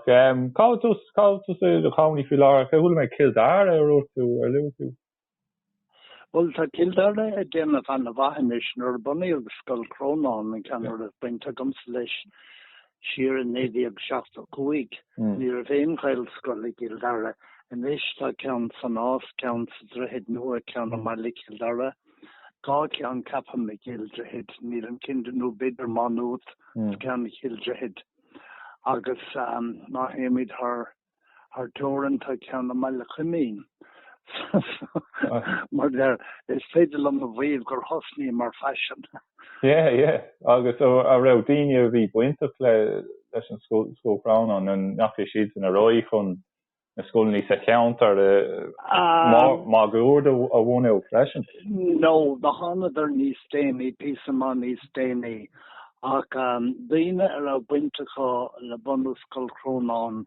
Cá bhfuil tú, cá bhfuil tú i do chónaí faoi láthair? Chuala mé Cill Dara a dúirt tú, ar luaigh tú. Bhuel, tá Cill Dara ag déanamh an-mhaith anois. Nuair a bunaíodh Scoil Chrónáin, an ceann a raibh baint agamsa leis, siar i 1975, ní raibh aon Ghaelscoil i gCill Dara. Anois tá ceann sa Nás, ceann sa Droichead Nua, ceann i mBaile Chill Dara, dhá cheann, ceapaim, i gCill Droichid, nílim cinnte, nó b'fhéidir Má Nuat, is ceann i gCill Droichid. agus má théimid thar teorainn tá ceann i mBaile Coimín mar sin, is féidir liom a mhaíomh gur thosnaíomar faisean. Yeah, yeah. Agus an raibh daoine a bhí bainteach leis an Scoil Chrónáin, an ndeachaigh siad sin ar aghaidh chun na scoileanna sa cheantar máguaird a bhunú freisin? No, no, thánadar níos déanaí, píosa maith níos déanaí. Ach daoine a raibh baint acu le bunú Scoil Chrónáin,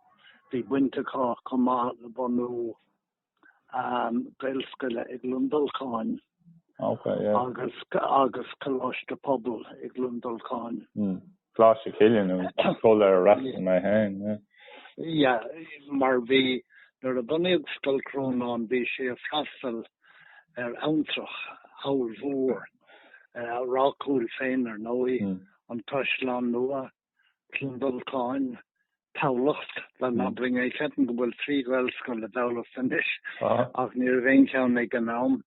bhí baint acu chomh maith le bunú Gaelscoile i gCluain Dolcáin. agus agus Coláiste Pobail i gCluain Dolcáin. Mm. Coláiste Chilliain an scoil ar a fhreastail mé féin. Yeah, mar bhí nuair a bunaíodh Scoil Chrónáin bhí sé ag freastal ar abhantrach ollmhór, Ráth Cúil féin ar ndóigh, an Caisleán Nua, Cluain Dolcáin, Tamhlacht, Gleann na mBráthar. Ceapaim go bhfuil trí Ghaelscoil i dTamhlacht anois ach ní raibh aon cheann ag an am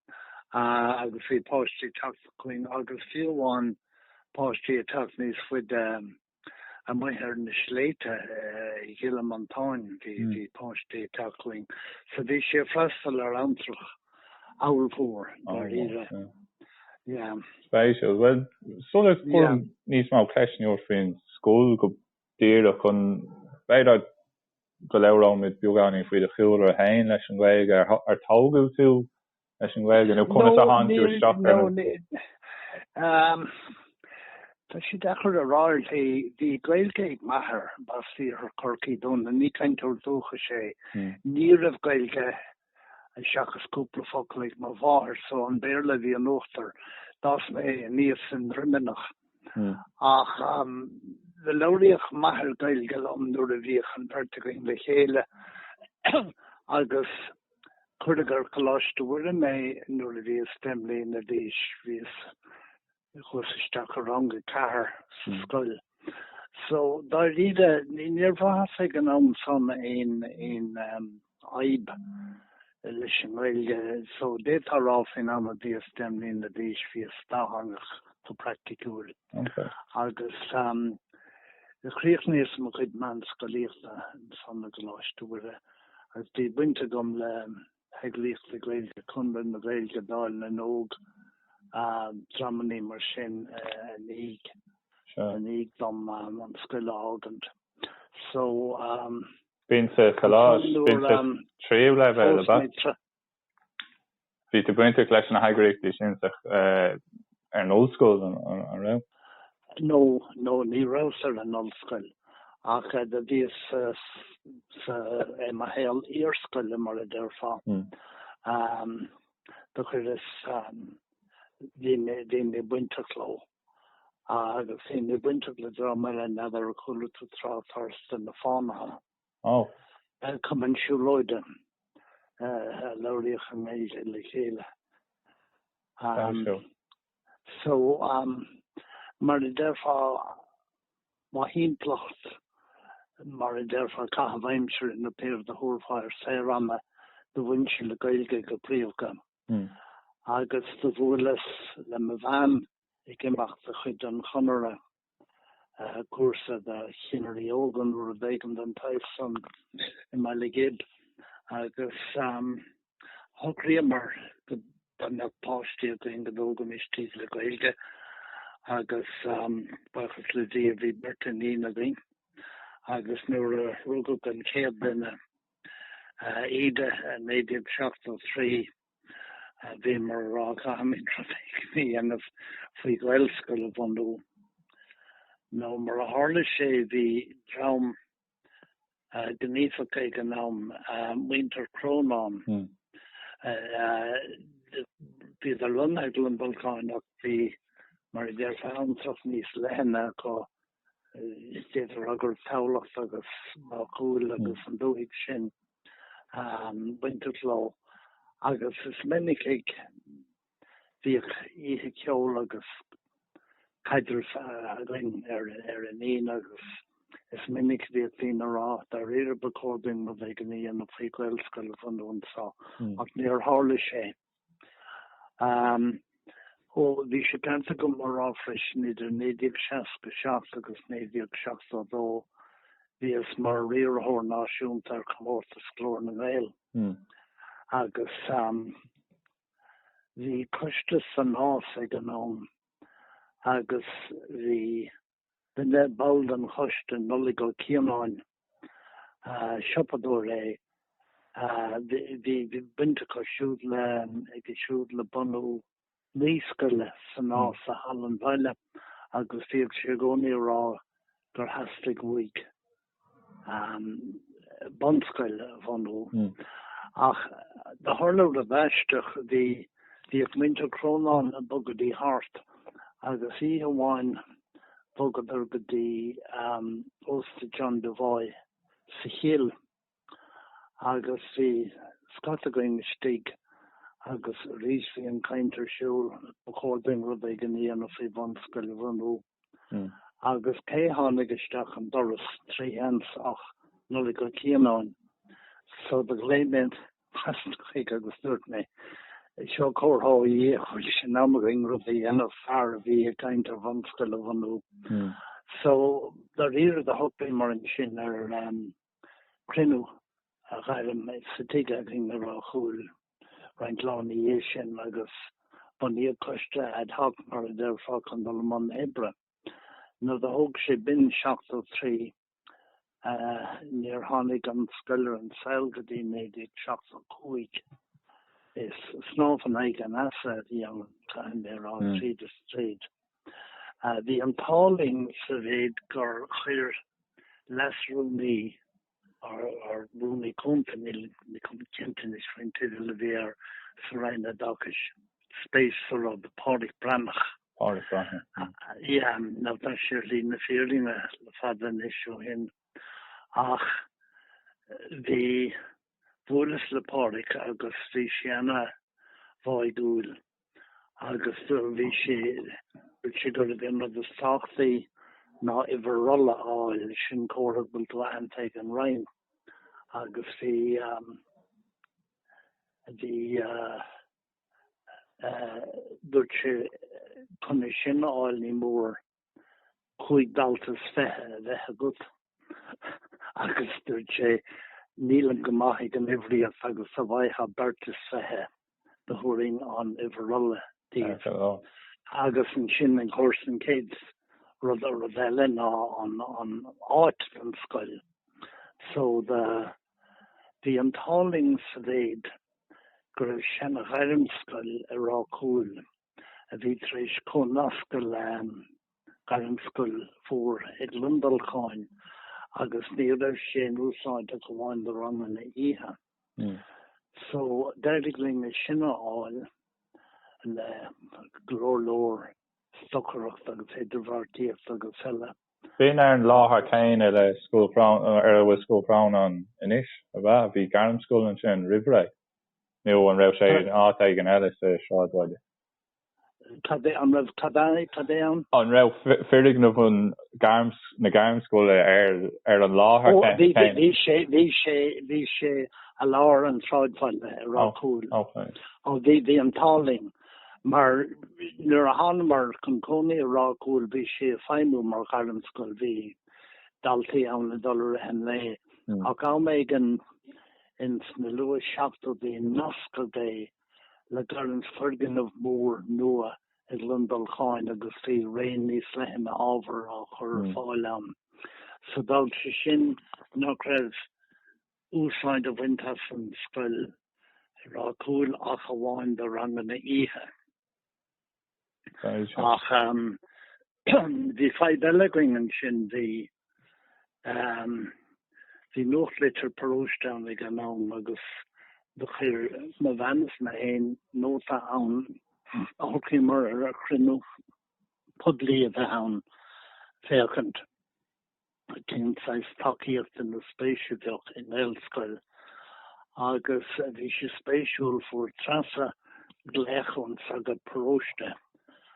agus bhí páistí ag teacht chugainn agus fiú amháin páistí ag teacht níos faide amuigh ar na sléibhte i gCill Mhantáin, bhí páistí ag teacht chugainn so bhí sé ag freastal ar abhantrach. Ollmhór, dáiríre. Yeah. Spéisiúil. Bhuel, sula gcuirim níos mó ceisteanna ort faoin scoil go díreach, b'fhéidir go labhróimid beagáinín faoi do chúlra féin leis an Ghaeilge? Ar tógadh tú leis an Ghaeilge nó conas a tháinig tú isteach air. Tá sé deacair a rá ar shlí. Bhí Gaeilge ag m'athair, b'as Iarthar Chorcaí dó, ach ní cainteoir dúchais é. Ní raibh Gaeilge seachas cúpla focal ag mo mháthair, so an Béarla a bhí in uachtar, d'fhás mé aníos i nDroimeanach, ach labhraíodh m'athair Gaeilge liom nuair a bhíodh an bheirt againn le chéile, agus cuireadh ar Choláiste Mhuire mé nuair a bhíos deich mbliana d'aois, bhíos chuas isteach i rang a ceathair sa scoil so dáiríre níor bhrathas ag an am san aon fhadhb leis an nGaeilge so d'fhéadfá rá faoin am a bhíos deich mbliana d'aois bhíos dátheangach go praiticiúil agus chríochnaíos-sa mo chuid meánscolaíochta ansan i gColáiste Mhuire agus bhí baint agam le heagraíochtaí Gaeilge, Conradh na Gaeilge, Dáil na nÓg, dreamannaí mar sin i ndiaidh dom an scoil a fhágaint. So, b'in sa choláiste tríú leibhéal, ab ea? Bhí tú bainteach leis na heagraíochtaí sin ar an ollscoil, an raibh? Nó, nó ní rabhas ar an ollscoil ach bhíos sa, i mo shaol iarscoile mar a déarfá. Do chuireas, bhí ana-bhaint agam leo agus ana-bhainteach le dream eile n'fheadar ar chuala tú trácht orthu, Na Fánaithe? Ó. Cumann siúlóide a labhraíodh Gaeilge le chéile. So, mar a déarfá, mo thimpeallacht, mar a déarfá, caitheamh aimsire nó pé rud a thabharfá air, saorama, do bhain sé le Gaeilge go príomha. Agus do bhuaileas le mo bhean ag imeacht de chuid an Chonartha. cúrsa do chinnirí óga nó rud éigin den tsaghas san i mBaile Ghib agus shocraíomar go dá mbeadh páistí againn go dtógaimis iad le Gaeilge agus buíochas le Dia bhí beirt iníon againn agus nuair a rugadh an chéad duine, Íde, i 1973, Bhíomar á rá, caithfimid rud éigin a dhéanamh faoi Ghaelscoil a bhunú nó mar a tharla sé bhí dream gníomhach ag an am, muintir Chrónáin, bhíodar lonnaithe i gCluain Dolcáin ach bhí, mar a déarfá, abhantrach níos leithne acu d'fhéadfá rá go raibh Tamhlacht agus Ráth Cúil agus an dúthaigh sin bainteach leo agus is minic a bhíodh oíche cheoil agus caidrimh againn ar an Aoine agus is minic a bhíodh daoine ag rá dáiríre ba chóir dúinn rud éigin a dhéanamh faoi Ghaelscoil a bhunú anseo ach níor tharla sé. Ó bhí sé ceart agam a rá freisin, idir 1967 agus 1972 bhíos mar Riarthóir Náisiúnta ar Chomórtas Ghlór na nGael agus bhí coiste san Nás ag an am agus bhí, Bhuail mé le ball den choiste, Nollaig Ó Cianáin. Siopadóir é. Bhí baint acu siúd le, aige siúd le bunú naíscoile sa Nás sa Halla an Bhaile agus bhíodh sé i gcónaí a' rá gur theastaigh uaidh, bunscoil a bhunú ach do tharla rud aisteach, bhí bhíodh muintir Crónáin ag bogadh dtí thart agus oíche amháin bhogadar go dtí ósta John Devoy sa chill agus bhí scata againn istigh agus arís bhí an caint ar siúl ba chóir dúinn rud éigin a dhéanamh faoi bhunscoil a bhunú. Hmm. Agus cé tháinig isteach an doras trí sheans ach Nollaig Ó Cianáin. So do ghlaoigh mé trasna chuige agus dúirt mé, Seo comhartha ó Dhia go bhfuil sé in am againn rud a dhéanamh, fear a bhí ag caint ar bhunscoil a bhunú. Hmm. So dáiríre do shocraíomar ansin ar, cruinniú a ghairm sa tigh againn i Ráth Chúil roinnt lá ina dhiaidh sin agus bunaíodh coiste ad hoc, mar a déarfá, chun dul i mbun oibre. Now do thóg sé b'in seachtó trí níor tháinig an scoil ar an saol go dtí naoi déag seachtó cúig. Is snámh in aghaidh an easa a bhí ann, caithfidh mé a rá, tríd is tríd. Bhí an t-ádh linn sa mhéid gur chuir leasrúnaí, nó rúnaí cúnta, níl mé chomh cinnte anois faoin teideal a bhí air sa Roinn Oideachais, spéis sa rud, Pádraic Breathnach. Pádraic Breathnach. Yeah, now tá sé ar shlí na fírinne le fada anois ó shin ach bhí, Bhuaileas le Pádraic agus bhí sé ana bháidhúil agus bhí sé, dúirt sé gurbh é an rud is tábhachtaí ná uimhir rolla a fháil, sin comhartha go bhfuil tú aitheanta ag an Roinn agus bhí bhí dúirt sé chun é sin a fháil ní mór cúig dalta is fiche a bheith agat agus dúirt sé nílim go maith ag an uimhríocht agus dá bhfaightheá beirt is fiche do thabharfainn an uimhir rolla díbh agus ansin of course an chéad rud a rud eile ná an an áit don scoil so do bhí an t-ádh linn sa mhéid go raibh seana-ghairmscoil i Ráth Cúil a bhí tar éis comhnascadh le Gairmscoil Mhór i gCluain Dolcáin agus ní raibh sé in úsáid ach amháin do ranganna oíche. Hmm. So d'éirigh linn é sin a fháil le go leor leor stocaireachta agus idirbheartaíochta agus eile. B'in ar an láthair chéanna le Scoil Chrónáin, ar a bhfuil Scoil Chrónáin anois, ab ea? Bhí Gairmscoil ansin roimh ré. Nó an raibh sé in áit éigin eile sa sráidbhaile? Cad é an raibh cad é cad é ann? An raibh foirgneamh an na Gairmscoile ar an láthair chéanna? Bhí sé, bhí sé, bhí sé i lár an tsráidbhaile i Ráth Cúil. Ó bhí, bhí an t-ádh linn mar nuair a thánamar chun cónaí i Ráth Cúil bhí sé ag feidhmiú mar Ghairmscoil, bhí daltaí ann ag dul i rith an lae ach am éigin, Ins na luath seachtóidí nascadh é le gairm foirgneamh mór nua i gCluain Dolcáin agus bhí raon níos leithne ábhar á chur ar fáil ann. So d'fhág sé sin nach raibh úsáid á bhaint as an scoil i Ráth Cúil ach amháin do ranganna oíche, Ach bhí fadhb eile againn ansin, bhí nuachtlitir paróiste ann ag an am agus do chuir mo bhean is mé féin nóta ann a shocraíomar ar chruinniú poiblí a bheith ann féachaint cén saghas tacaíochta nó spéis a bheadh i nGaelscoil agus bhí sé spéisiúil, fuair Treasa glaoch ón sagart paróiste,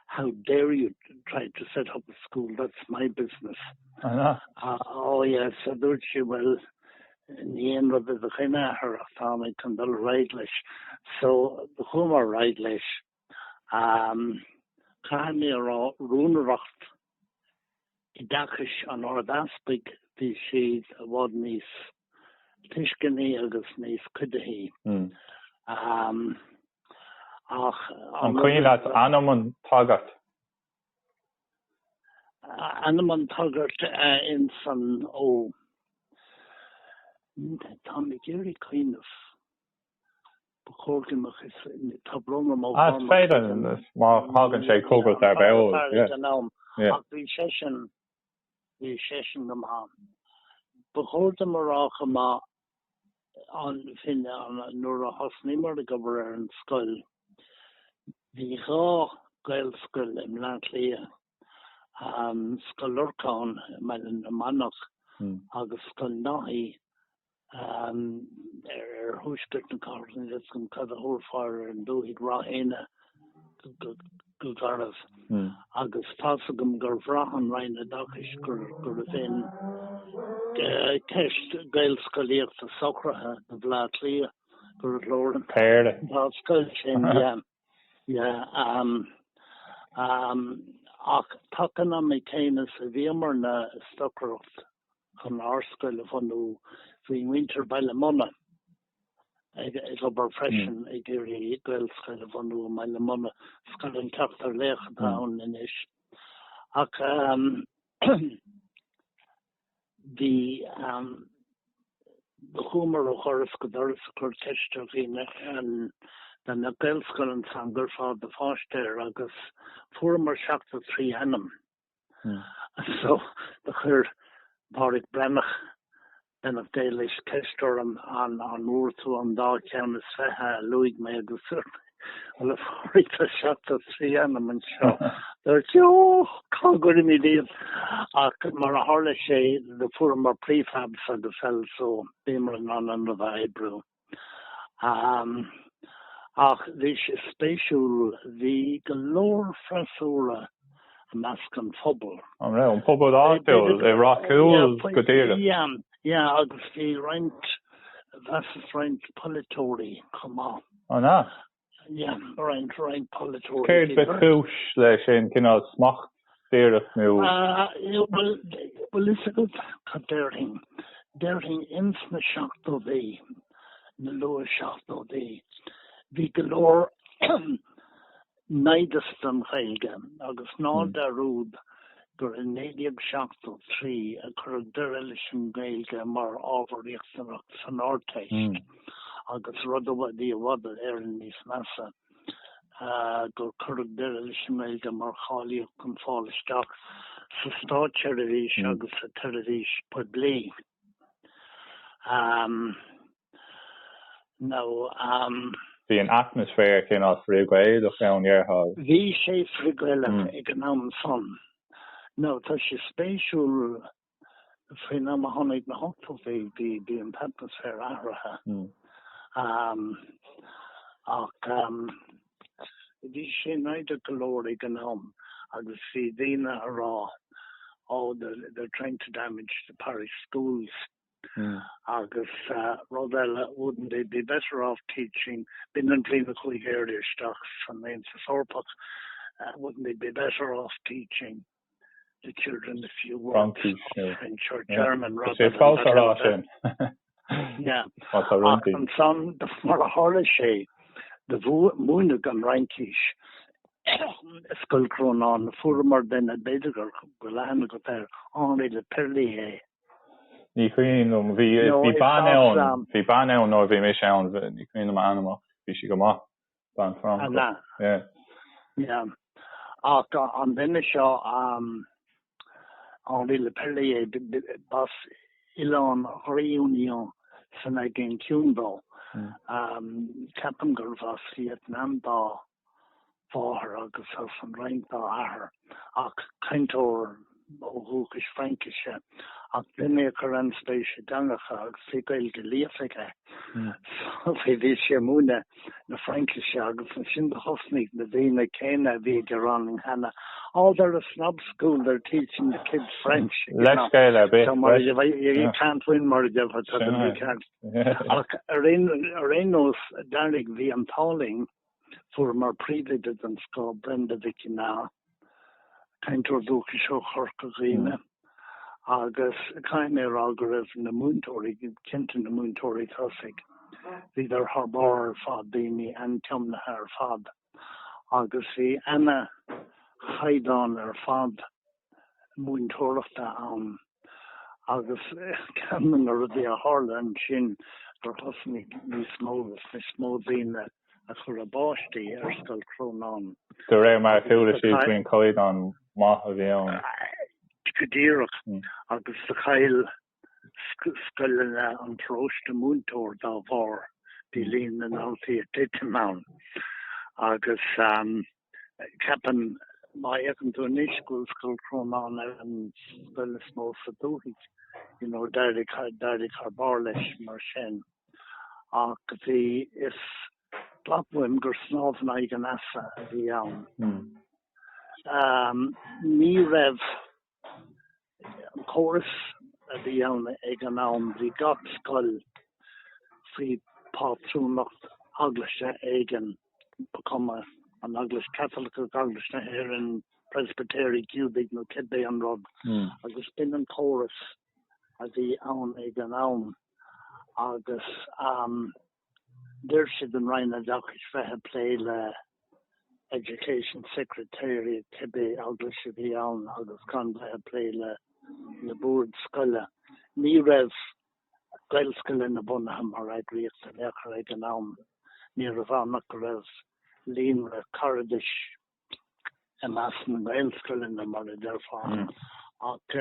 How dare you try to set up a school, that's my business. Ó yes, a dúirt sí, bhuel, ní aon rud i do choinne, a Athair, ach táim chun dul ar aghaidh leis. So chuamar ar aghaidh leis. Caithfidh mé a rá, rúnaireacht oideachais an Ard-Easpaig, bhí siad i bhfad níos tuisceanaí agus níos cuidithí. Ach. An cuimhin leat ainm an tsagairt? Ainm an tsagairt ins an, ó, táim ag iarraidh cuimhneamh. Ba chóir go mbeadh fhios ag na tráthnóna má tháinig sé den am. Is féidir, má thagann sé chugat ar bith eol, yeah. Ach bhí seisean, bhí seisean go maith. Ba chóir dom a rá chomh maith an fhírinne nuair a thosnaíomar ag obair ar an scoil. Bhí dhá Ghaelscoil i mBleá Cliath, Scoil Lorcáin i mBaile na Manach agus Scoil Neasáin ar thuaisceart na cathrach isteach i, cad a thabharfá ar an dúthaigh Ráth Eanaigh go garbh agus tá's agam gur bhraith an Roinn Oideachais gurbh in ceist gaelscolaíochta socraithe do Bhleá Cliath gur leor an dá scoil sin ach taca an ama céanna is a bhíomar ag stocaireacht chun ár scoil a bhunú. Bhí muintir Baile Munna ag obair freisin ag iarraidh Gaelscoil a bhunú i mBaile Munna, Scoil an tSeachtar Laoch atá ann anois. Ach bhí, do chuamar ó dhoras go doras ag cur ceiste ar dhaoine dá mbeadh Gaelscoil ann an gcuirfeá do pháiste air agus fuaireamar 73 ainm. Hmm. And so do chuir Pádraig Breathnach, beannacht Dé leis, ceist orm an bhfuair tú an dá cheann is fiche a luaigh mé agus dúirt mé, Bhuel, a Phádraig, tá seachtó is trí ainm anseo. Dúirt sé, Ó, cá gcuirfimid iad? Ach mar a tharla sé, do fuaireamar prefabs agus eile so, bíomar in ann an rud a oibriú. Ach bhí sé spéisiúil, bhí go leor freasúra i measc an phobail. An raibh an pobal áitiúil i bhfreasúra go díreach? Sea, agus bhí roinnt, measaim roinnt polaiteoirí chomh maith. An ea? Céard ba chúis leis, aon chineál smacht díreach nó.? Bhfuil fhios agat cad déarfainn, déarfainn ins na seachtódaí, na luath seachtódaí, bhí go leor naimhdeas don Ghaeilge agus ná dearúd gur i 1973 a cuireadh deireadh leis an nGaeilge mar ábhar riachtanach san Ardteist. agus rud a bhí i bhfad Éireann níos measa, gur cuireadh deireadh leis an nGaeilge mar cháilíocht chun fáil isteach sa státseirbhís agus sa tseirbhís phoiblí. Bhí an atmaisféar cineál frith-Ghaelach ann, déarfá? Bhí sé frith-Ghaelach ag an am san. Tá sé spéisiúil faoin am a tháinig na hochtóidí bhí an t-atmaisféar athraithe ach bhí sé naimhdeach go leor ag an am agus bhí daoine ag rá oh they're trying to damage the parish schools agus rud eile wouldn't they be better off teaching, b'in an bhliain a chuaigh Éire isteach san Aontas Eorpach, wouldn't they be better off teaching. Fraincis nó is é fabht a rá sin má tá rún di. Ansan mar a tharla sé do bhí múineadh na Fraincise i Scoil Crónáin, fuaireamar duine, b'fhéidir go raibh aithne agat air, Henri Leperlier. Ní cuimhin liom, bhí bean ann, bhí bean ann nuair a bhí mise ann, ní chuimhin liom a ainm ach bhí sí go maith. Don Franco. An ea? Yeah. Ach an duine seo, Henri Leperlier, b'as oileán Réunion san Aigéan Ciúin dó. Ceapaim gurbh as Vietnam dá mháthair agus as an Fhrainc dá athair. ach cainteoir ó dhúchas Fraincise, ach duine a chuir an-spéis i dteangacha agus bhí Gaeilge líofa aige. So, bhí sé ag múineadh na Fraincise agus ansin thosnaigh na daoine céanna a bhí ag gearán cheana, oh, they're a snob school, they're teaching the kids French, you know. Leithscéal ar bith. So, mar a deir, you can't win, mar a gheibh, you can't. Ach ar aon nós, d'éirigh, bhí an t-ádh linn, Fuaireamar príomhoide den scoth, Brenda Mhic Ginneá, cainteoir dúchais ó Chorca Dhuibhne, agus caithfidh mé a rá go raibh na múinteoirí, cinnte na múinteoirí tosaigh, bhíodar thar barr ar fad, daoine an-tiomnaithe ar fad agus bhí ana chaighdeán ar fad. múinteoireachta ann agus ceann de na rudaí a tharla ansin gur thosnaigh níos mó agus níos mó daoine ag cur a bpáistí ar Scoil Chrónáin. De réir mar a chuala siad faoin chaighdeán maith a bhí ann. Go díreach. Agus do chaill scoileanna an pharóiste, múinteoir dá bharr bhí líon na ndaltaí ag titim ann agus ceapaim, má fhéachann tú anois, go bhfuil Scoil Chrónáin ar an scoil is mó sa dúthaigh, you know, d'éirigh thar barr leis mar sin. Ach bhí, is glac uaim gur snámh in aghaidh an easa a bhí ann. Ní raibh an córas a bhí ann ag an am, bhí gach scoil faoi phátrúnacht eaglaise éigin, ba chuma an Eaglais Chaitliceach, Eaglais na hÉireann, Preispitéirí, Giúdaigh nó cibé aon rud, agus b'in an córas a bhí ann ag an am. Agus D'oir sé don Roinn Oideachais bheith ag plé le Education Secretary cibé eaglais a bhí ann agus gan bheith ag plé le na boird scoile. Ní raibh Gaelscoileanna bunaithe mar eagraíocht in aon chor ag an am. Ní raibh ann ach go raibh líonra cairdis i measc na nGaelscoileanna, mar a deirfeá. Ach.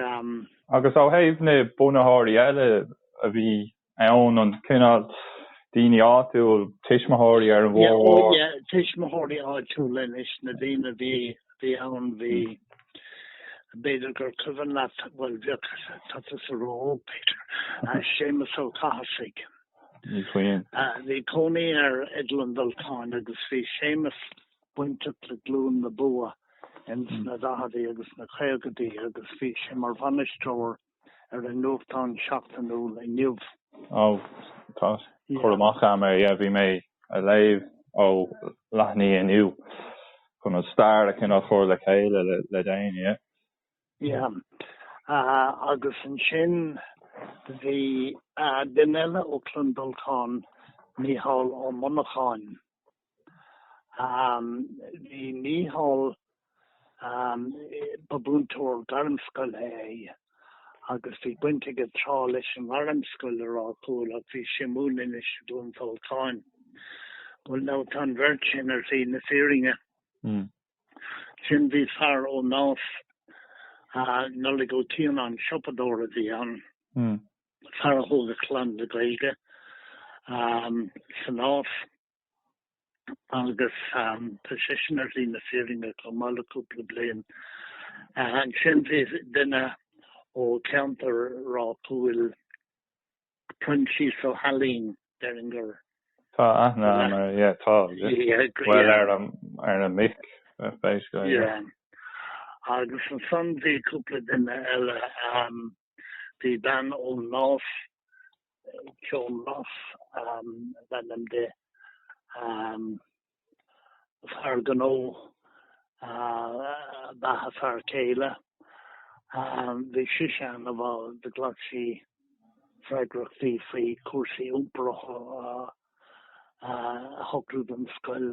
Agus ó thaobh na bunaitheoirí eile a bhí ann, an cineál daoine áitiúil, tuismitheoirí ar an mórgóir? Yeah, oh yeah, tuismitheoirí áitiúla anois, na daoine a bhí, a bhí ann, bhí, b'fhéidir gur cuimhin leat, bhuel, bhíodh, tá tusa ró-óg, Peter, Séamus Ó Cathasaigh. Ní chuimhin. Bhí cónaí air i gCluain Dolcáin agus bhí Séamus bainteach le Glúin na Buaidhe ins na daicheadaí agus na caogaidí agus bhí sé mar bhainisteoir ar an nuachtán seachtainiúil Inniu. Ó, tá cur amach a'm air, yeah, bhí mé a' léamh ó leathanaigh Inniu chun an stair a chineál chur le chéile le, le déanaí, yeah. Yeah, agus ansin bhí duine eile ó Chluain Dolcáin, Mícheál Ó Muineacháin. Bhí Mícheál, ba mhúinteoir gairmscoile é agus bhí baint aige tráth leis an ngairmscoil i Ráth Cúil ach bhí sé ina chónaí anois i gCluain Dolcáin. Bhuel now, tá an bheirt sin ar shlí na fírinne. Ansin bhí fear ó Nás, Nollaig Ó Cianáin, siopadóir a bhí ann, fear a thóg a chlann le Gaeilge sa Nás. agus tá seisean ar shlí na fírinne chomh maith le cúpla bliain. Ansin bhí duine ó cheantar Ráth Cúil, Proinsias Ó hAilín, déarfainn gur. Tá aithne agam air, yeah, tá, bhuel ar na mic, b'fhéidir, yeah. Agus ansan bhí cúpla duine eile. Bhí bean ón Nás, Joan Ross ab ainm di, fear gnó ab ea a fear céile, bhí sise ina ball de, ghlac sí freagracht faoi chúrsaí iompair a shocrú don scoil,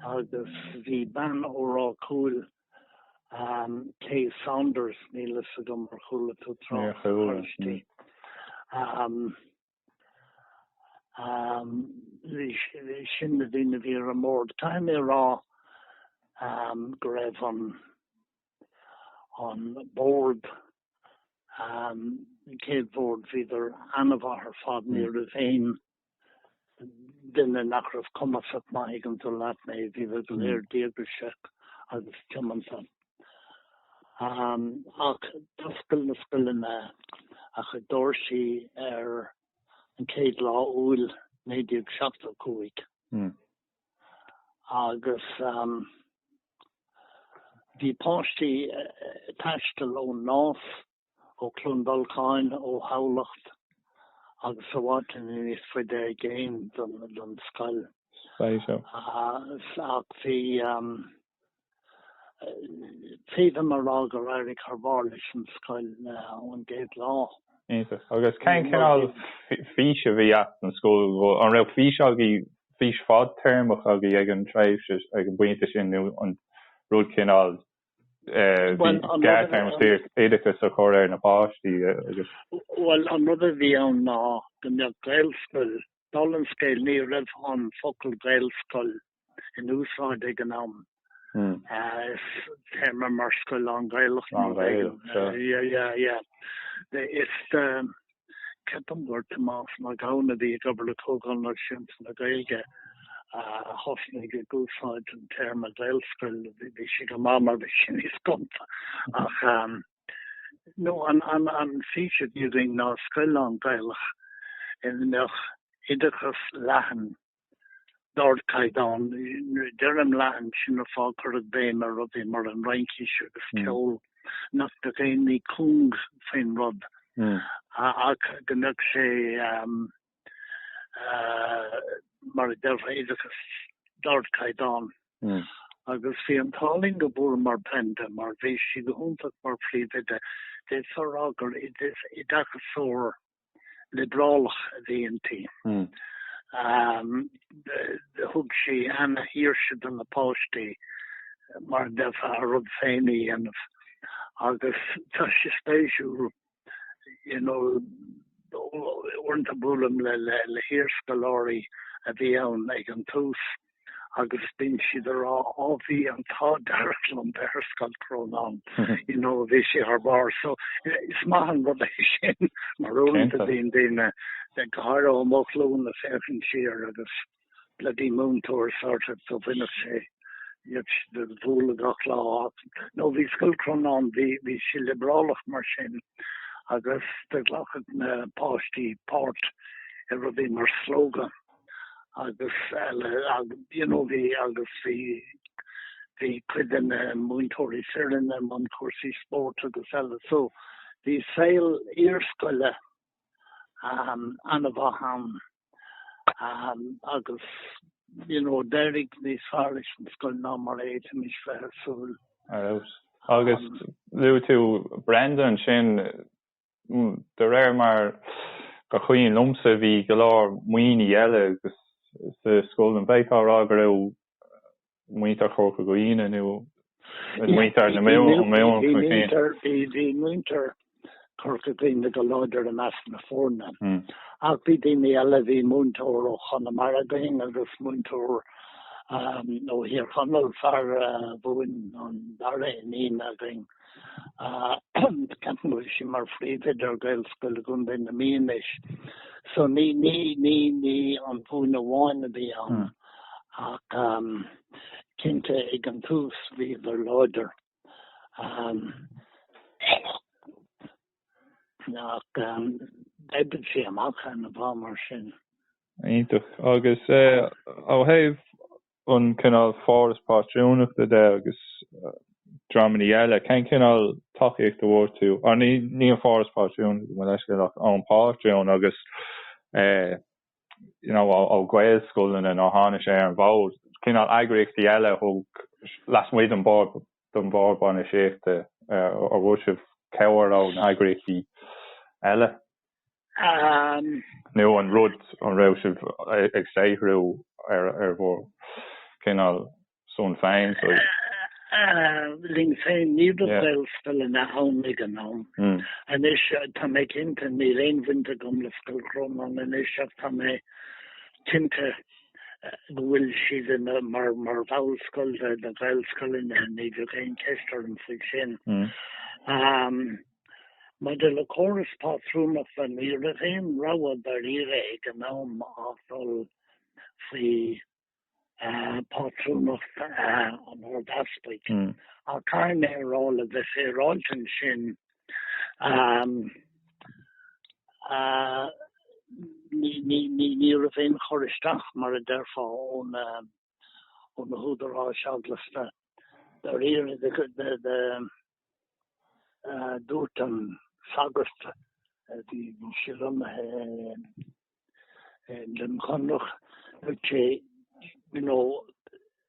agus bhí bean ó Ráth Cúil, Kay Saunders, níl a fhios agam ar chuala tú trácht uirthi, sin na daoine a bhí ar an mbord. Caithfidh mé a rá go raibh an bord, an chéad bhord, bhíodar an-mhaith ar fad, ní raibh aon duine nach raibh cumasach maith ag an, dála leat mé, bhí siad go léir díograiseach agus tiomanta. Ach d'oscail an scoil a cuid dóirsí ar an chéad lá Iúil 1975 agus bhí páistí ag taisteal ón Nás, ó Chluain Dolcáin, ó Thamhlacht agus i bhfad níos faide i gcéin don scoil. Ach bhí, féadaim a rá gur éirigh thar barr leis an scoil ón gcéad lá. Iontach. Agus cén cineál fís a bhí agat don scoil? An raibh fís agaibh, fís fadtéarmach agaibh ag an tréimhse, ag an bpointe sin nó an rud cineál níos gearrthéarmaí oideachas a chur ar na páistí agus. Bhuel, an rud a bhí ann ná go mbeadh Gaelscoil, bhuel an scoil, ní raibh an focal Gaelscoil in úsáid ag an am. Is téarmaí mar scoil lán-Ghaelach nó. Lán-Ghaeilge, sure. Yeah, yeah, yeah. Is. Ceapaim gur Tomás Mac Gabhann, a bhí ag obair le Comhdháil Náisiúnta na Gaeilge, a thosnaigh ag úsáid an téarma Gaelscoil, bhí sé go maith mar bhí sé níos gonta, ach ehm, no, an an fhís a bhí againn ná scoil lán-Ghaelach ina mbeadh oideachas leathan, d'ardchaighdeán. Deirim leathan sin an fáth, cuireadh béim ar rudaí mar an Fhraincis agus ceol nach mbeadh aon ní cúng faoin rud ach go mbeadh sé, mar a déarfá, oideachas d'ardchaighdeán. Agus bhí an t-ádh linn go bhfuaireamar Brenda mar bhí sí go hiontach mar phríomhoide. D'fhéadfá a rá gur oideachasóir liobrálach a bhí inti. Thug sí ana-shaoirse do na páistí mar a déarfá a rud féin a dhéanamh agus tá sé spéisiúil you know uaireanta buailim le hiarscoláirí a bhí ann ag an tús, agus bíonn siad ag rá á bhí an t-ádh dearg liom bheith ar Scoil Chrónáin you know bhí sé thar barr so is maith an rud é sin mar uaireanta bíonn daoine ag go háirithe ó mo ghlúin a féachann siar agus bloody múinteoir sort of do bhíodh sé ár mbualadh gach lá nó bhí Scoil Chrónáin bhí bhí sé liobrálach mar sin agus do ghlacadh na páistí páirt i rudaí mar Slógadh agus eile you know bhí agus bhí bhí cuid de na múinteoirí fireann i mbun cúrsaí spóirt agus eile so bhí saol iarscoile an-mhaith ann agus you know d'éirigh níos fearr leis an scoil ná mar a fhéadfaimis bheith ag súil. Far out. Agus luaigh tú Brenda ansin. De réir mar gur cuimhin liomsa bhí go leor Muimhnigh eile sa scoil, an mbeifeá a rá go raibh muintir Chorca Dhuibhne nó muintir na Mumhan chun cinn? Bhí muintir Chorca Dhuibhne go láidir i measc na foirne ach bhí daoine eile, bhí múinteoir ó Chonamara againn agus múinteoir ó Thír Chonaill, bhí ar a mhúin an dara iníon againn. ceapaim go bhfuil sí mar phríomhoide ar Ghaelscoil i gContae na Mí anois so ní ní ní ní an Mhumhain amháin a bhí ann ach cinnte ag an tús bhíodar láidir ach d'oibrigh sé amach an-mhaith mar sin. Iontach. Agus ó thaobh an cineál foras pátrúnachta de agus dreamanna eile, cén cineál tacaíocht a bhfuair tú? Á, ní, ní an foras pátrúnachta, gabh mo leithscéal ach ón pátrún agus, you know, ó Ghaelscoileanna nuair a tháinig sé ar an bhfód. Cineál eagraíochtaí eile taobh lasmuigh den bord, den bhord bainistíochta, an bhfuair sibh cabhair ó na heagraíochtaí eile? An. nó an rud, an raibh sibh ag saothrú ar bhur gcineál son féin, saoi. linn féin. Ní raibh Yeah. Gaelscoileanna ann ag an am. Mm. Anois, tá mé cinnte, níl aon bhaint agam le Scoil Chrónáin anois ach tá mé cinnte go bhfuil siad ina, mar, mar bhall scoil de na Gaelscoileanna, ní bheadh aon cheist orm faoi sin. Mm. Maidir le córas pátrúnachta, ní raibh aon rogha dáiríre ag an am ach dul faoi phátrúnacht an Ard-Easpaig, ach caithfidh mé a rá, le bheith féaráilte ansin, ní raibh aon chur isteach, mar a déarfá, ó na. ó na húdaráis eaglasta. Dáiríre, dúirt an sagart a bhí lonnaithe i nDroim Chonrach, dúirt sé, you know,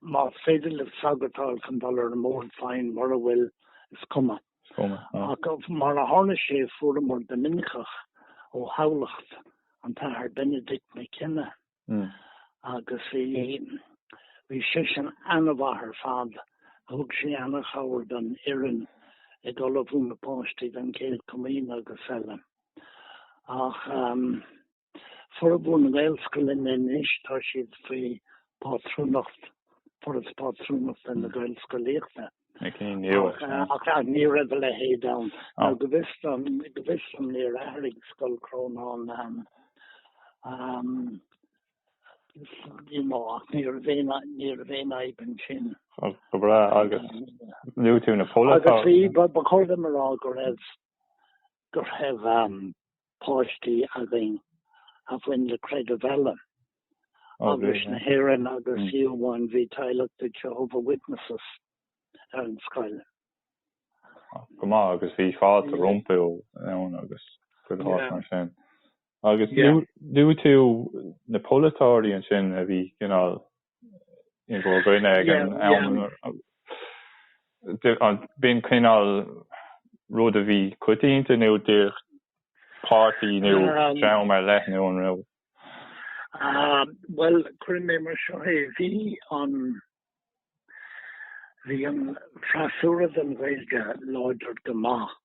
más féidir le sagart a fháil chun dul ar an mbord, fine, mura bhfuil, is cuma. Ach mar a tharla sé, fuaireamar Doiminiceach ó Thamhlacht, an tAthair Benedict Mac Cionnaith. agus bhí, bhí seisean an-mhaith ar fad, thug sé an-chabhair don fhoireann ag ullmhú na páistí don Chéad Chomaoin agus eile. Ach formhór na nGaelscoileanna anois, tá siad faoi phátrúnacht, Foras Pátrúnachta na Gaelscolaíochta. Ní raibh a leithéid ann. Go bhfios dom, go bhfios dom, níor athraigh Scoil Chrónáin Ní raibh aon fhadhb ansin. Go breá, agus luaigh tú na pol atá. Agus bhí, ba chóir dom a rá go raibh, go raibh, páistí againn a bhain le creideamh eile, Eaglais na hÉireann agus fiú amháin bhí teaghlach de Jehovah's Witnesses ar an scoil. Go maith, agus bhí fáilte rompu ann agus gach rud mar sin. Agus luaigh tú na polaiteoirí ansin a bhí cineál in bhur gcoinne ag an am. An mbíonn cineál rud a bhí coitianta nó an mba é páirtí nó dream ar leith nó an raibh? Bhuel, cuirfidh mé mar seo é, bhí an, bhí an freasúra don Ghaeilge láidir go maith.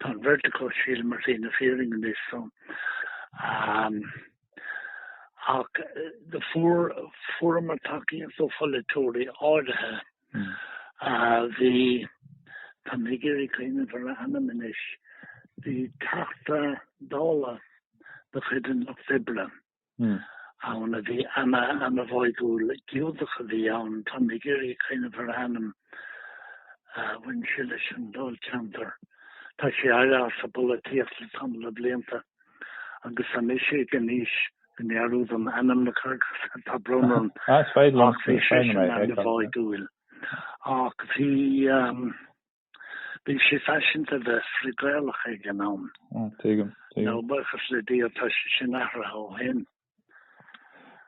Tá an bheirt acu, sílim, ar shlí na fírinne anois so. Ach fuaireamar tacaíocht ó pholaiteoirí áirithe a bhí, tá mé ag iarraidh cuimhneamh ar a ainm anois, bhí Teachta Dála de chuid an Lucht Oibre, ann a bhí ana-ana-bháúil, Giúdach a bhí ann, táim ag iarraidh cuimhneamh ar a ainm, bhain sé leis an dáilcheantar, tá sé amuigh as an bpolaitíocht le tamall de bhlianta agus anois tá mé ag an aois go ndearúdaim ainmneacha, tá brón orm, ach bhí seisean ana-bháúil, ach bhí. Bhí sé faiseanta bheith frith-Gaelach ag an am. Tuigim, tuigim. Ó buíochas le Dia tá sé sin athraithe ó shin.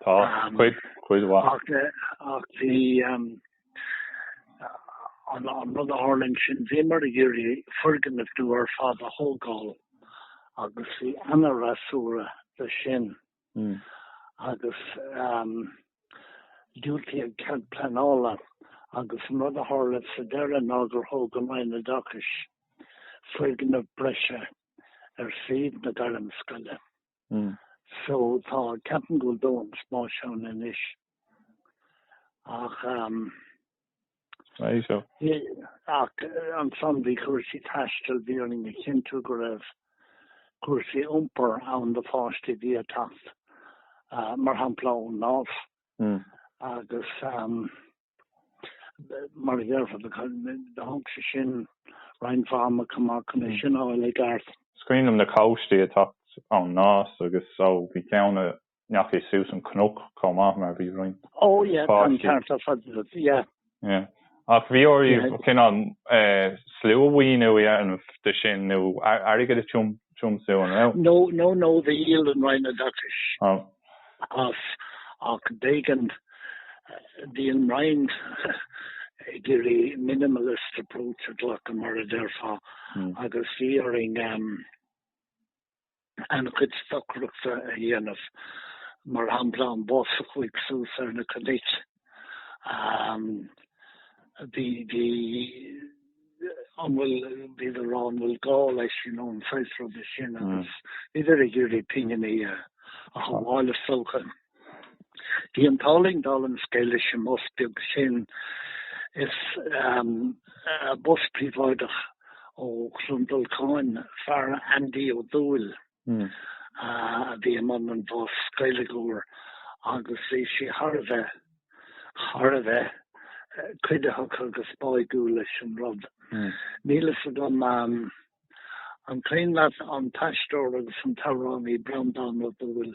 Tá, cuid, cuid mhaith. Ach, ach bhí an rud a tharla ansin, bhíomar ag iarraidh foirgneamh nua ar fad a thógáil agus bhí ana-fhreasúra dó sin. mm. agus um, diúltaíodh an cead pleanála agus an rud a tharla sa deireadh ná gur thóg an Roinn Oideachais foirgneamh breise ar shuíomh na gairmscoile. Mm. So tá ceapaim go bhfuil dóthain spáis ann anois. Ach um, Ach ansan bhí cúrsaí taistil, bhí orainn a chinntiú go raibh cúrsaí iompair ann do pháistí a bhí ag teacht, mar shampla, ón Nás agus mar a déarfá, thóg sé sin roinnt mhaith ama chomh maith chun é sin a fháil i gceart. Is cuimhin liom na páistí ag teacht ón Nás agus ó bhí ceann i ndeachaigh suas an cnoc chomh maith mar bhí roinnt páistí. Ach bhí oraibh cineál sluamhaoiniú a dhéanamh de sin nó airgead a thiomsú, an raibh? No, no, no, bhí, dhíol an Roinn Oideachais as ach b'éigean, bhí an Roinn ag iarraidh minimalist approach a ghlacadh mar a déarfá agus bhí orainn, an-chuid stocaireachta a dhéanamh, mar shampla an bus a chuaigh suas ar na cnoic, bhí, bhí, an bhfuil, bhíodar ag rá an bhfuil gá leis, you know, an saghas ruda sin agus bhíodar ag iarraidh pinginí a shabháil is dócha. Bhí an t-ádh linn, d'oscail an scoil le mionbhus beag sin, sé, bus príobháideach ó Chluain Dolcáin, fear Andy Ó Dúill a bhí i mbun an bhus, Gaeilgeoir, agus bhí sé thar a bheith, thar a bheith cuiditheach agus báúil leis an rud. Níl a fhios agam an cuimhin leat, an t-aisteoir agus an t-amhránaí Breandán Ó Dúill.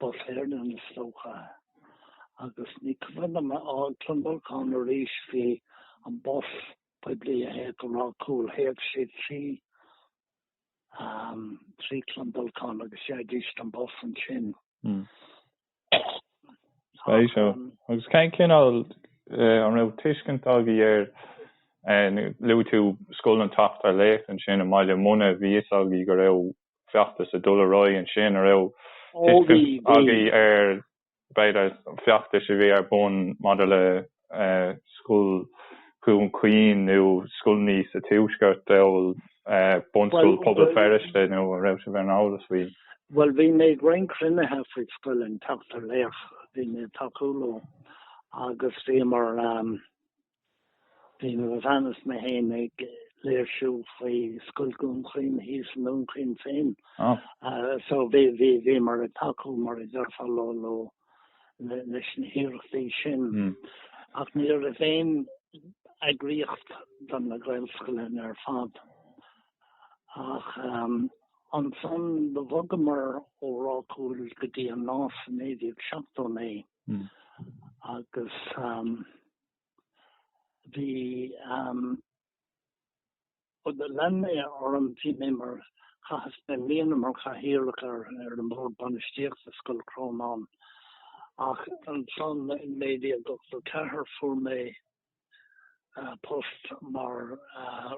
Bus Éireann, is dócha, agus ní, cuimhin liom, ó Chluain Dolcáin arís, bhí an bus poiblí a théadh go Ráth Cúil, théadh sé trí trí Chluain Dolcáin agus d'fhaighidís an bus ansin. Spéis é. Agus cén cineál, an raibh tuiscint agaibh ar, nó luaigh tú Scoil an tSeachtar Laoch ansin i mBaile Munna, bhí a fhios agaibh go raibh feachtas ag dul ar aghaidh ansin, an raibh tuiscint agaibh ar b'fhéidir feachtais a bhí ar bun maidir le Scoil Dhún Chaoin nó scoileanna sa Tuaisceart amhail Bunscoil Pobal Feirste nó an raibh sibh ar an eolas faoi? Bhuel, bhí mé ag roinnt cruinnithe faoi Scoil an tSeachtar Laoch, bhí mé ag tacú leo agus bhíomar. Bhí mo bhean is mé féin ag léirsiú faoi Scoil Dhún Chaoin thíos i nDún Chaoin féin so bhíomar ag tacú, mar a deirfeá, leis na hiarrachtaí sin. Ach ní raibh aon eagraíocht do na Gaelscoileanna ar fad. Ach ansan do bhogamar ó Ráth Cúil go dtí an Nás i 1979 agus. bhí am lean mé orm bhí mé mar chaitheas mé mbliana mar chathaoirleach ar an mbord bainistíochta scoil Chrónáin ach ansan i 1984 fuair mé post mar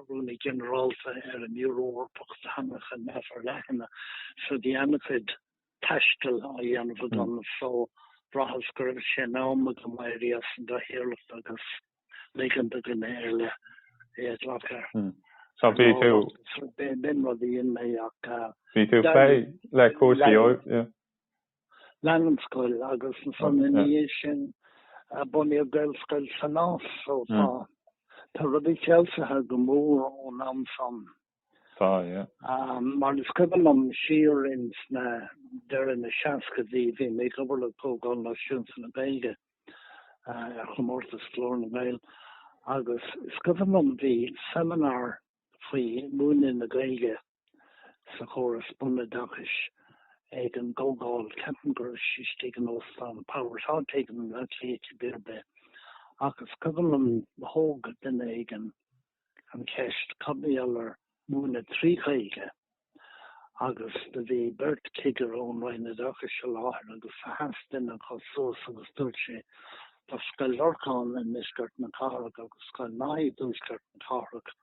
rúnaí ginearálta ar an mBiúró Eorpach do teangacha neamh-fhorleathana so bhí ana chuid taistil á dhéanamh agam so bhraitheas go raibh sé in am agam éirí as an gcathaoirleacht agus ligean do dhuine eile é a ghlacadh. So b'in rud a dhein mé ach lean an scoil agus ansan ina dhiaidh sin bunaíodh Gaelscoil sa Nás so tá rudaí feabhsaithe go mór ón am san. So, yeah. Mar is cuimhin liom, siar insan deireadh na seascaidí, bhí mé ag obair le Comhdháil Náisiúnta na Gaeilge ar chomórtas Ghlór na nGael agus is cuimhin liom bhí seimineár faoi mhúineadh na Gaeilge sa chóras bunoideachais ag an gComhdháil, ceapaim go raibh sí istigh in Óstán Powers, áit éigin i mBleá Cliath ar bith, ach is cuimhin liom thóg duine éigin. an cheist faoi ábhair a mhúineadh trí Ghaeilge agus do bhí beirt cigire ón Roinn Oideachais i láthair agus sheas duine acu suas agus dúirt sé Tá Scoil Lorcáin i ndeisceart na cathrach agus Scoil Neasáin i dtuaisceart na cathrach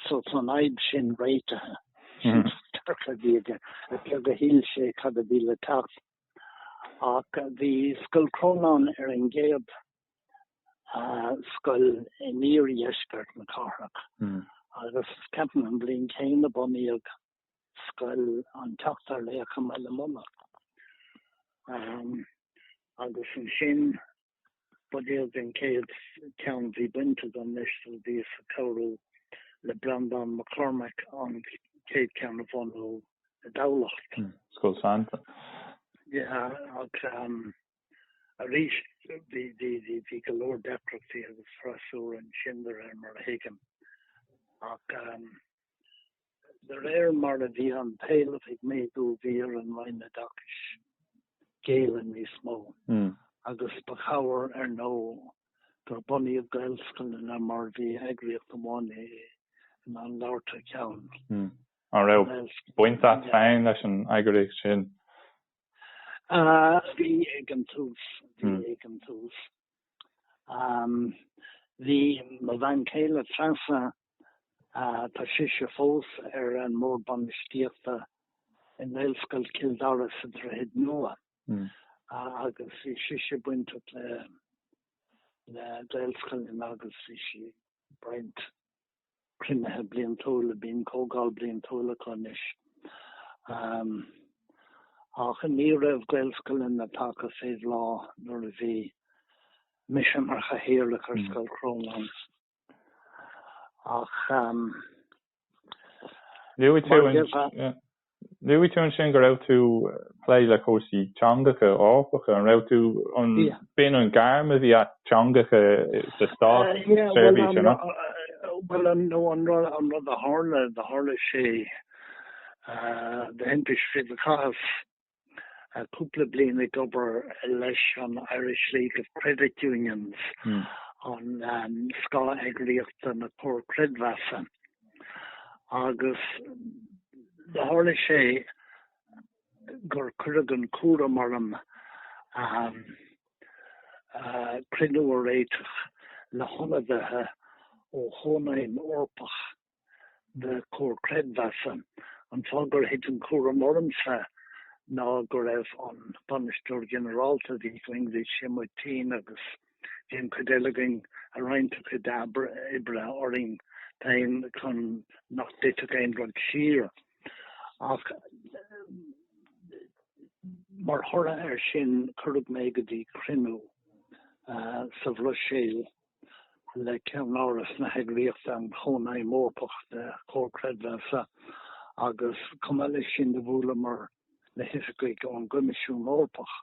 so tá an fhadhb sin réitithe. Sin dearcadh a bhí aige. Is beag a shíl sé cad a bhí le teacht. Ach bhí Scoil Chrónáin ar an gcéad scoil in iardheisceart na cathrach agus ceapaim an bhliain chéanna a bunaíodh scoil an tSeachtar Laoch i mBaile Munna. Agus ansin bunaíodh an chéad cheann a bhí baint agam leis, so bhíos ag cabhrú le Breandán Mac Cormaic an chéad cheann a bhunú i dTamhlacht. Scoil Santain. Yeah, ach. Arís, bhí go leor deacrachtaí agus freasúra ansin de réir mar a thuigim, ach de réir mar a bhí an t-éileamh ag méadú bhí ar an Roinn Oideachais géilleadh níos mó agus ba chabhair ar ndóigh gur bunaíodh Gaelscoileanna mar bhí eagraíocht amháin in ann labhairt thar ceann na nGaelscoileanna. An raibh baint a't féin leis an eagraíocht sin? Bhí ag an tús, bhí ag an tús. Bhí mo bhean chéile Treasa, tá sise fós ar an mbord bainistíochta i nGaelscoil Chill Dara sa Droichead Nua, agus bhí sise bainteach le Gaelscoileanna agus bhí sí ag baint cruinnithe bliantúla, bíonn comhdháil bliantúil acu anois, ach ní raibh gaelscoileanna tagtha fé bhláth nuair a bhí mise mar chathaoirleach ar Scoil Chrónáin ach, mar gheall ar. Luaigh tú ansin go raibh tú ag plé le cúrsaí teangacha Eorpacha. An raibh tú, an b'in an ghairm a bhí a't, teangacha sa státseirbhís ar an. Bhuel, nó an rud a tharla, do tharla sé do thimpiste fríd an chaitheamh cúpla bliain ag obair leis an Irish League of Credit Unions, an scátheagraíocht do na comhair creidmheasa, agus tharla sé gur cuireadh an cúram orm cruinniú a réiteach le hionadaithe ó Chónaidhm Eorpach de Chomhair Chreidmheasa. An fáth gur thit an cúram ormsa ná go raibh an Bainisteoir Ginearálta a bhí againn, bhí sé amuigh tinn agus bhí an chuid eile againn ag roinnt a chuid oibre orainn féin chun nach dtitfeadh aon rud siar. Ach mar thoradh air sin, cuireadh mé go dtí cruinniú sa Bhruiséil. le ceannáras na heagraíochta, an Chónaidhm Eorpach de Chomhair Chreidmheasa, agus chomh maith leis sin do bhuaileamar le hoifigigh ón gCoimisiún Eorpach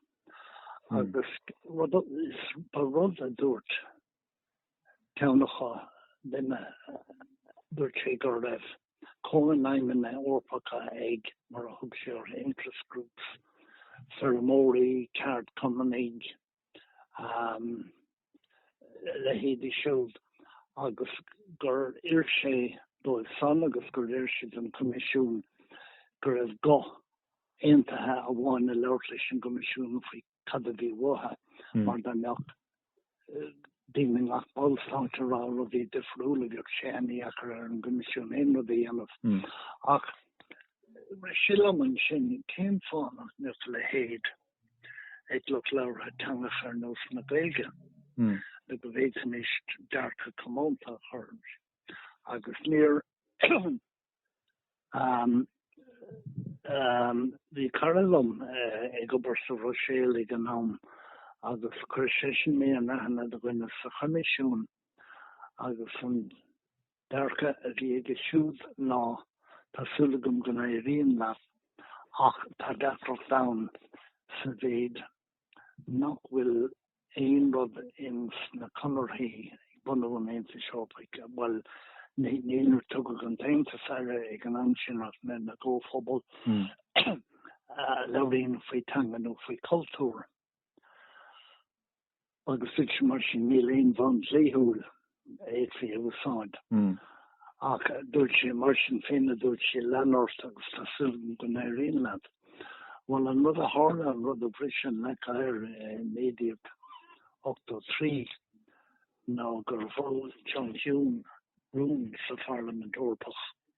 agus rud a dúirt ceann acu linn, dúirt sé go raibh cónaidhmeanna Eorpacha ag, mar a thug sé orthu, interest groups, feirmeoirí, ceardchumannaigh, leithéidí siúd agus gur oir sé dóibh san agus gur oir sé don Choimisiún go raibh guth aontaithe amháin ag labhairt leis an gCoimisiún faoi cad a bhí uathu, mar dá mbeadh daoine i ngach ballstát ag rá rudaí difriúla bheadh sé an-dheacair ar an gCoimisiún aon rud a dhéanamh. Ach rith sé liom ansin cén fáth nach mbeadh a leithéid ag lucht labhartha teangacha ar nós na Gaeilge le go bhféadfaimis dearcadh comónta a chur orthu agus níor bhí cara liom ag obair sa Bhruiséil ag an am agus chuir seisean mé in aithne do dhuine sa Choimisiún agus an dearcadh a bhí aige siúd ná, tá súil agam go n-éiríonn leat, ach tá deacracht ann sa mhéid nach bhfuil aon rud ins na conarthaí ag bunú an Aontais Eorpaigh, bhuel, níor tugadh an tAontas air ag an am sin ach na gComhphobal, a labhraíonn faoi theanga nó faoi chultúr. agus dúirt sé mar sin níl aon bhonn dlíthiúil a fhéadfaí a úsáid ach dúirt sé mar sin féin a dúirt sé lean ort agus tá súil agam go n-éiríonn leat bhuel an rud a tharla an rud a bhris an leac oighir i 1983 ná gur mhol John Hume rún sa Pharlaimint Eorpach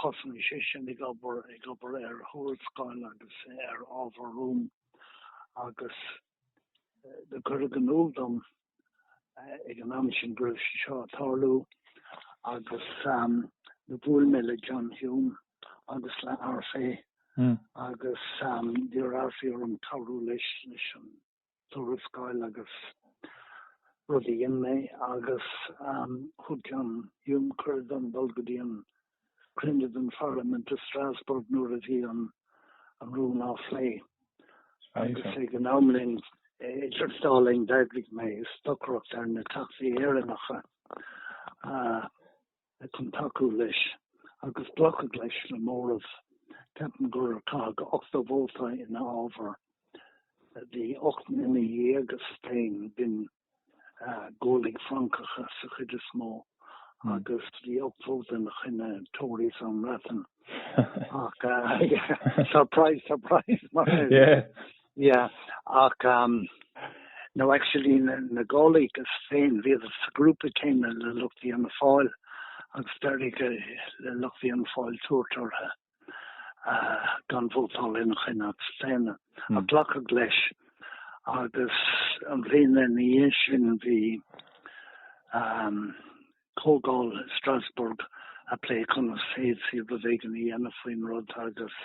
Thosnaigh sé sin ag obair, ag obair ar thuarascáil agus ar ábhar rúin agus do cuireadh in iúl dom ag an am sin go raibh sé seo a' tarlú agus do bhuail mé le John Hume agus le Arfé agus d'iarr Arfé orm cabhrú leis, leis an. tuarascáil agus rud a dhein mé agus thug John Hume cuireadh dom dul go dtí an cruinniú den Pharlaimint i Strasbourg nuair a bhí an rún á phlé agus ag an am linn idir an dá linn d'eagraigh mé stocaireacht ar na Teachtaí Éireannacha chun tacú leis agus glacadh leis le móramh. Ceapaim gur caitheadh 80 vóta ina fhábhar. Bhí ocht nduine dhéag a staon, b'in Gaullaigh Fhrancacha sa chuid is mó, agus bhí ocht vóta ina choinne, Tories ón mBreatain. ach surprise surprise mar yeah ach um no actually na Gaullists féin bhí siad sa grúpa céanna le lucht Fhianna Fáil agus d'éirigh le lucht Fhianna Fáil tabhairt orthu gan vótáil ina choinne agus féin a glacadh leis agus an bhliain ina dhiaidh sin bhí comhdháil i Strasbourg ag plé conas a d'fhéadfaí rud éigin a dhéanamh faoin rud agus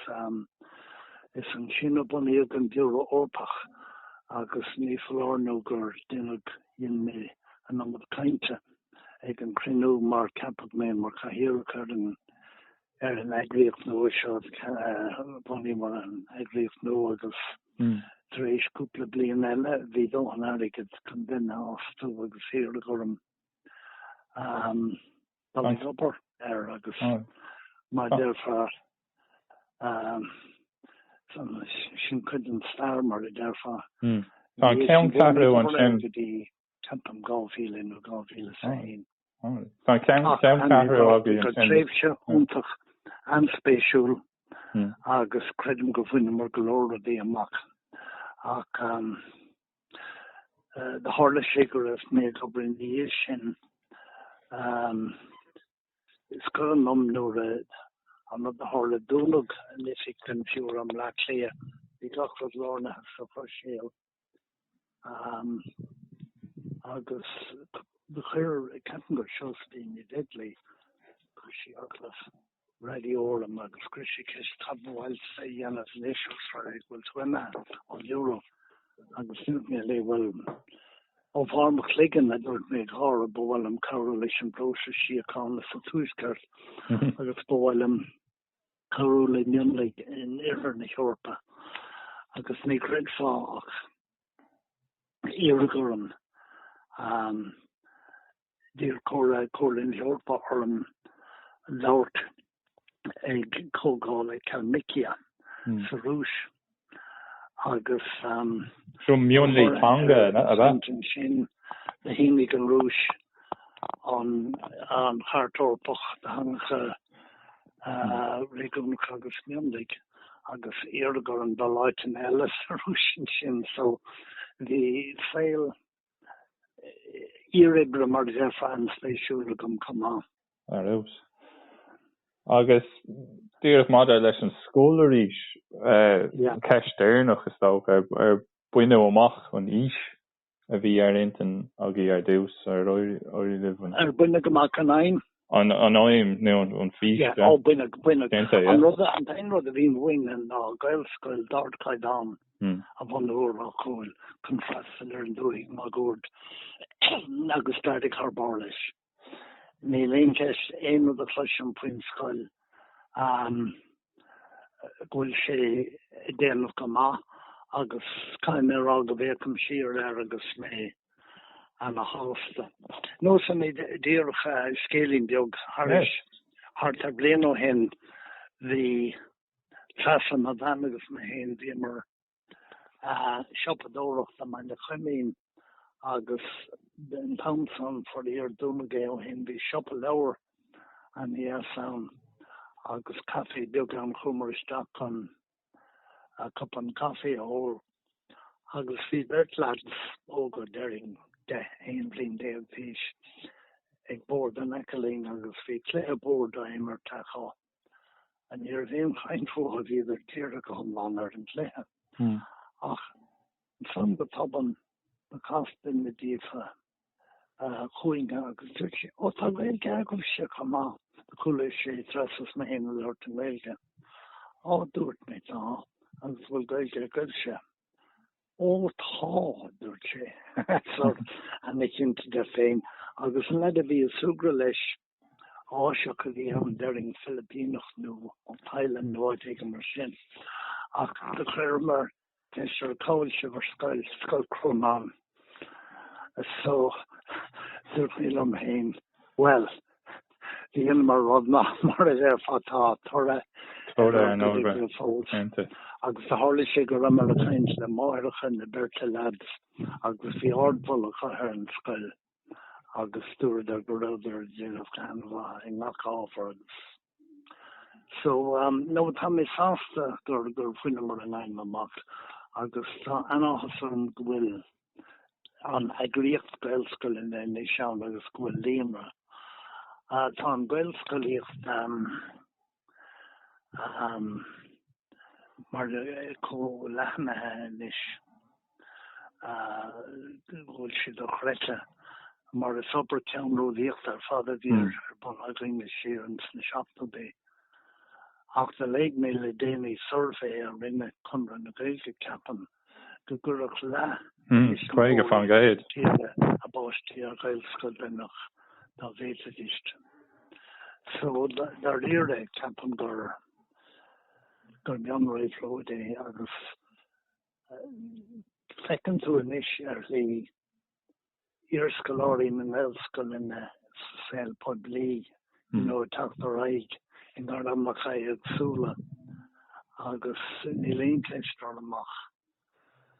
is ansin a bunaíodh an Biúró Eorpach agus ní foláir nó gur deineadh dhein mé an iomad cainte ag an cruinniú mar ceapadh mé mar Chathaoireach ar an ar an eagraíocht nua seo bhunaíomar an eagraíocht nua agus tar éis cúpla bliain eile bhí dóthain airgead chun duine a fhostú agus iarradh orm um, dul ag obair air agus mar a déarfá um, sin cuid an stair mar a déarfá. Hmm. Tá an cheanncheathrú ansin. Timpeall 2000 nó 2001. Tá ceanncheathrú againn ansin. Tréimhse iontach an-spéisiúil hmm. agus creidim gur bhaineamar go leor rudaí amach ach um, Tharla sé go raibh mé ag obair ina dhiaidh sin is cuimhin liom nuair a an rud a tharla, dúnadh an oifig den Bhiúró i mBleá Cliath, bhí gach rud lárnaithe sa Bhruiséil agus chuir ceapaim gur Seosaimhín Ní Bheaglaoich, chuir sí agallamh raidió orm agus cuir sí ceist cad ba mhaith leat a dhéanamh anois agus a rá go bhfuil tú imithe ón Eoraip agus dúirt mé léi bhuel ó bharr mo chloigeann a dúirt mé ag gáire ba mhaith liom cabhrú leis an bpróiseas síochána sa tuaisceart agus ba mhaith liom cabhrú le mionlaigh in oirthear na hEorpa agus ní chreidfeá ach iarradh orm um, D'iarr Comh Comhairle na hEorpa orm labhairt ag comhdháil i Kalmykia sa Rúis agus dúirt an cainteann sin do shínigh an Rúis an Chairt Eorpach do Theangacha Réigiúnacha agus Mionlaigh agus iarradh orm dul áiteanna eile sa Rúis ansin so bhí saol iar-Bhiúró mar a déarfá an-spéisiúil agam chomh maith. Ar fheabhas. Agus díreach maidir leis an scoil arís, ceist dheireanach is dócha, ar baineadh amach an fhís a bhí ar intinn agaibh ar dtús? Ar éirigh libh an. Ar baineadh amach an aidhm? an aidhm nó an fís a déanta é. An t-aon rud a bhí uainn ná Gaelscoil d'ardchaighdeán a bhunú i Ráth Cúil chun freastal ar an dúthaigh máguaird agus d'éirigh thar barr leis. Níl aon cheist, aon rud a chloisim faoin scoil, go bhfuil sé ag déanamh go maith agus caithfidh mé a rá go bhféachaim siar air agus mé ana shásta. Neosfaidh mé díreach scéilín beag thairis, thart ar bliain ó shin bhí Treasa, mo bhean agus mé féin, bhíomar siopadóireachta mar na Coimín agus an t-am san, faraor, dúnadh é ó shin, bhí siopa leabhar ana dheas ann agus caifé beag ann, chuamar isteach chun cupán caifé a ól agus bhí beirt leaids óga, déarfainn deich, aon bhliain déag d'aois, ag bord in aice linn agus bhí cluiche boird á imirt acu. Ní raibh aon chaint fúthu, bhíodar dírithe go hiomlán ar an gcluiche ach ansan go tobann chas duine díobh chugainne agus dúirt sé, Ó tá Gaeilge agaibhse chomh maith! Do chualaidh sé Treasa is mé féin ag labhairt i nGaeilge. Á, dúirt mé, tá, agus bhfuil Gaeilge agaibhse? Ó tá, a dúirt sé, sort ana chinnte de féin, agus an leaid a bhí ag súgradh leis Áiseach a bhí ann, déarfainn, Filipíneach nó ón Téalainn nó áit éigin mar sin. Ach do chuireamar ceist air, cá bhfuil sibh ar scoil, Scoil Chrónáin? So, dúirt mé liom féin, bhuel, dhéanamar rud maith, mar a déarfá, tá toradh ar an obair fós. Agus do tharla sé go rabhamar ag caint le máithreacha na beirte leaids agus bhí ardmholadh acu ar an scoil. agus dúradar go rabhadar ag déanamh go han-mhaith i ngach ábhar agus so um nó tá mé sásta gur gur bhaineamar an aidhm amach agus tá an-áthas orm go bhfuil an eagraíocht Gaelscoileanna anois ann agus go bhfuil líonra. Tá an Gaelscolaíocht um. mar chomh leathnaithe anois go bhfuil sé dochreidte, mar is obair cheannródaíochta ar fad a bhí ar bun againn siar ins na seachtóidí. Ach do léigh mé le déanaí suirbhé a rinne Conradh na Gaeilge, ceapaim, go gcuirfeadh leath níos mó de thuismitheoirí a bpáistí ar ghaelscoil cinnte dá bhféadfaidís. So, dáiríre, ceapaim gur gur mion-réabhlóid é agus feiceann tú anois ar shlí iarscoláirí na nGaelscoileanna sa saol poiblí inniu ag teacht ar aghaidh i ngairmeacha éagsúla agus níl aon cheist orm ach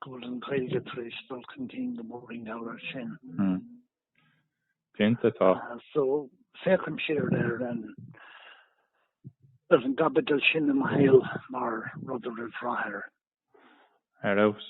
go bhfuil an Ghaeilge tar éis dul chun cinn go mór i ngeall air sin. Cinnte tá. So, féachaim siar ar an gcaibidil sin i mo shaol mar rud a raibh rath air. Ar fheabhas.